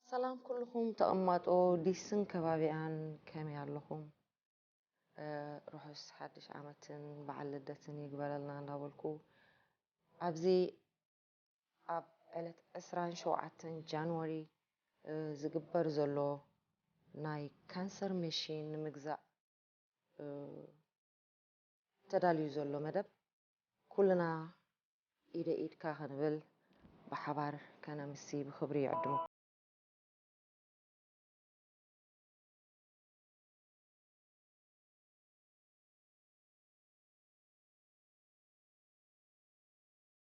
ሰላም ኩልኹም ተቐማጦ ዲስን ከባቢኣን ከመይ ኣለኹም? ርሑስ ሓድሽ ዓመትን በዓል ልደትን ይግበረልና እንዳበልኩ ኣብዚ ኣብ ዕለት ዕስራን ሸውዓተን ጃንዋሪ ዝግበር ዘሎ ናይ ካንሰር መሺን ንምግዛእ ተዳልዩ ዘሎ መደብ ኩልና ኢደይ ኢድካ ክንብል ብሓባር ከነምሲ ብክብሪ ይዕድመኩም።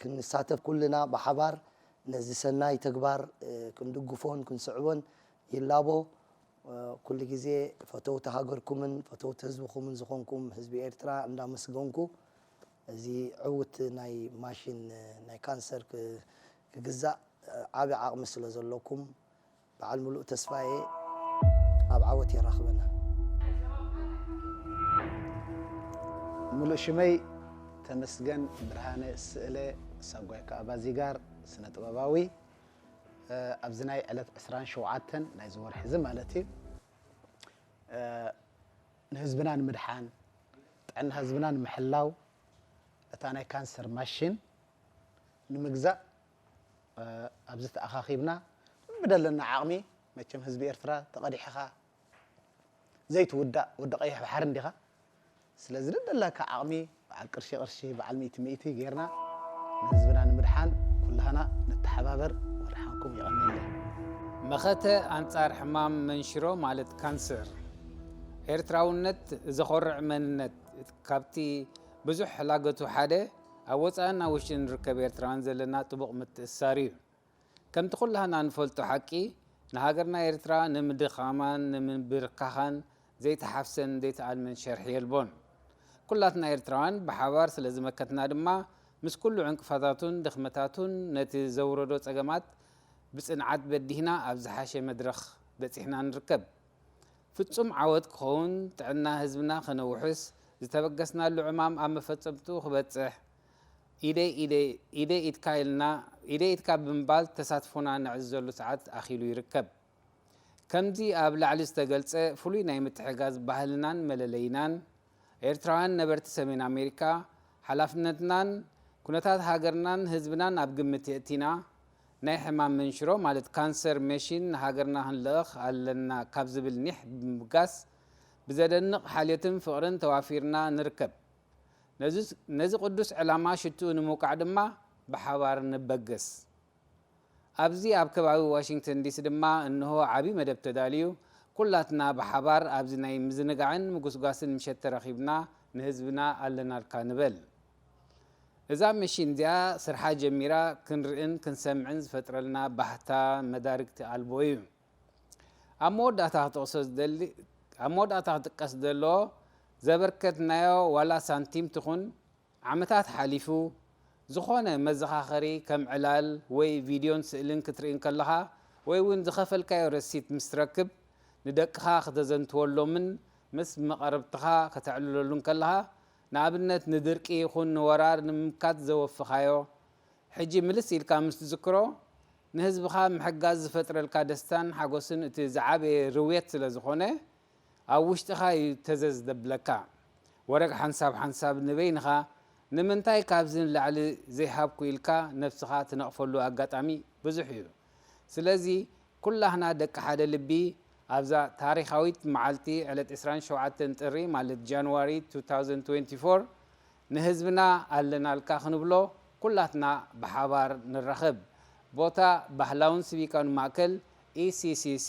ክንሳተፍ ኩልና ብሓባር ነዚ ሰናይ ተግባር ክንድግፎን ክንስዕቦን ይላቦ። ኩሉ ግዜ ፈተውቲ ሃገርኩምን ፈተውቲ ህዝብኹምን ዝኾንኩም ህዝቢ ኤርትራ እንዳመስገንኩ እዚ ዕውት ናይ ማሽን ናይ ካንሰር ክግዛእ ዓቢ ዓቕሚ ስለዘለኩም በዓል ሙሉእ ተስፋ እየ ኣብ ዓወት የራኽበና። ምሉእ ሽመይ ተመስገን ብርሃነ ስእለ ሳጓ ከኣ ባዚጋር ስነ ጥበባዊ ኣብዚ ናይ ዕለት ዕስራን ሸውዓተን ናይዚ ወርሒ እዚ ማለት እዩ ንህዝብና ንምድሓን ጥዕና ህዝብና ንምሕላው እታ ናይ ካንሰር ማሽን ንምግዛእ ኣብዚ ተኣኻኺብና ብደለና ዓቕሚ መቸም ህዝቢ ኤርትራ ተቐዲሕኻ ዘይትውዳእ ወዲ ቀይሕ ባሕሪ እንዲኻ ስለዚ ደደላካ ዓቕሚ በዓል ቅርሺ ቅርሺ በዓል ሚእቲ ሚእቲ ጌርና ንህዝብና ንምድሓን ኩላህና ንተሓባበር ወድሓንኩም የቐንየለይ መኸተ ኣንጻር ሕማም መንሽሮ ማለት ካንሰር ኤርትራውነት ዘኾርዕ መንነት ካብቲ ብዙሕ ላገቱ ሓደ ኣብ ወጻእን ኣብ ውሽጢ ንርከብ ኤርትራውያን ዘለና ጥቡቕ ምትእስሳር እዩ። ከምቲ ኩላህና ንፈልጦ ሓቂ፣ ንሃገርና ኤርትራ ንምድኻማን ንምብርካኻን ዘይተሓፍሰን ዘይተኣልመን ሸርሒ የልቦን። ኩላትና ኤርትራውያን ብሓባር ስለ ዝመከትና ድማ፣ ምስ ኩሉ ዕንቅፋታቱን ድኽመታቱን ነቲ ዘውረዶ ጸገማት ብጽንዓት በዲህና ኣብ ዝሓሸ መድረኽ በጺሕና ንርከብ። ፍጹም ዓወት ክኸውን፣ ጥዕና ህዝብና ከነውሕስ፣ ዝተበገስናሉ ዕማም ኣብ መፈጸምትኡ ክበጽሕ፣ ኢደይ ኢደይ ኢድ ኢድካ ኢልና ኢደይ ኢድካ ብምባል ተሳትፎና ነዕዝዘሉ ሰዓት ኣኺሉ ይርከብ። ከምዚ ኣብ ላዕሊ ዝተገልጸ ፍሉይ ናይ ምትሕጋዝ ባህልናን መለለይናን፣ ኤርትራውያን ነበርቲ ሰሜን ኣሜሪካ ሓላፍነትናን ኩነታት ሃገርናን ህዝብናን ኣብ ግምት የእቲና ናይ ሕማም መንሽሮ ማለት ካንሰር መሺን ንሃገርና ክንልእኽ ኣለና ካብ ዝብል ኒሕ ብምብጋስ ብዘደንቕ ሓልዮትን ፍቕርን ተዋፊርና ንርከብ። ነዚ ቅዱስ ዕላማ ሽትኡ ንምውቃዕ ድማ ብሓባር ንበገስ። ኣብዚ ኣብ ከባቢ ዋሽንግተን ዲሲ ድማ እንሆ ዓቢ መደብ ተዳልዩ ኩላትና ብሓባር ኣብዚ ናይ ምዝንጋዕን ምጉስጓስን ምሸት ተረኺብና ንህዝብና ኣለናልካ ንበል። እዛ መሺን እዚኣ ስርሓ ጀሚራ ክንርእን ክንሰምዕን ዝፈጥረልና ባህታ መዳርግቲ ኣልቦ እዩ። ኣብ መወዳእታ ክጠቕሶ ዝደሊ ኣብ መወዳእታ ክጥቀስ ዘለዎ ዘበርከትናዮ ዋላ ሳንቲም ትኹን ዓመታት ሓሊፉ፣ ዝኾነ መዘኻኸሪ ከም ዕላል ወይ ቪድዮን ስእልን ክትርኢ እንከለኻ ወይ'ውን ዝኸፈልካዮ ረሲት ምስ ትረክብ ንደቅኻ ክተዘንትወሎምን ምስ መቐርብትኻ ከተዕልለሉን ከለኻ ንኣብነት ንድርቂ ይኹን ንወራር ንምምካት ዘወፍኻዮ ሕጂ ምልስ ኢልካ ምስ ትዝክሮ ንህዝብኻ ምሕጋዝ ዝፈጥረልካ ደስታን ሓጎስን እቲ ዝዓበየ ርውየት ስለዝኾነ ኣብ ውሽጥኻ እዩ ተዘ ዝደብለካ ወረግ ሓንሳብ ሓንሳብ ንበይንኻ ንምንታይ ካብዚ ንላዕሊ ዘይሃብኩ ኢልካ ነብስኻ ትነቕፈሉ ኣጋጣሚ ብዙሕ እዩ ስለዚ ኩላህና ደቂ ሓደ ልቢ ኣብዛ ታሪኻዊት መዓልቲ ዕለት ዕስራን ሸውዓተን ጥሪ ማለት January two thousand twenty four ንህዝብና ኣለናልካ ክንብሎ ኩላትና ብሓባር ንራኸብ ቦታ ባህላውን ስቪካውን ማእከል ECCC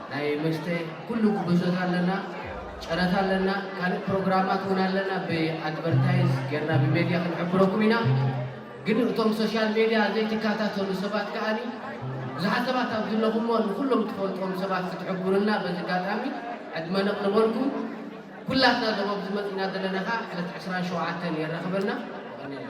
ናይ መስተ ኩሉ ጉዕዞታት ኣለና ጨረታ ኣለና ካልእ ፕሮግራማት እውን ኣለና ብኣድቨርታይዝ ጌርና ብሜድያ ክንሕብረኩም ኢና ግን እቶም ሶሻል ሜድያ ዘይትከታተሉ ሰባት ከዓኒ ብዙሓት ሰባት ኣብ ዝለኹሞ ንኩሎም ትፈልጥዎም ሰባት ክትሕብሩና በዚ ኣጋጣሚ ዕድመ ነቕርበልኩም ኩላትና እዞም ኣብዚ መፂና ዘለና ከዓ ዕለት ዕስራን ሸውዓተን የራኽበና ይቐኒልና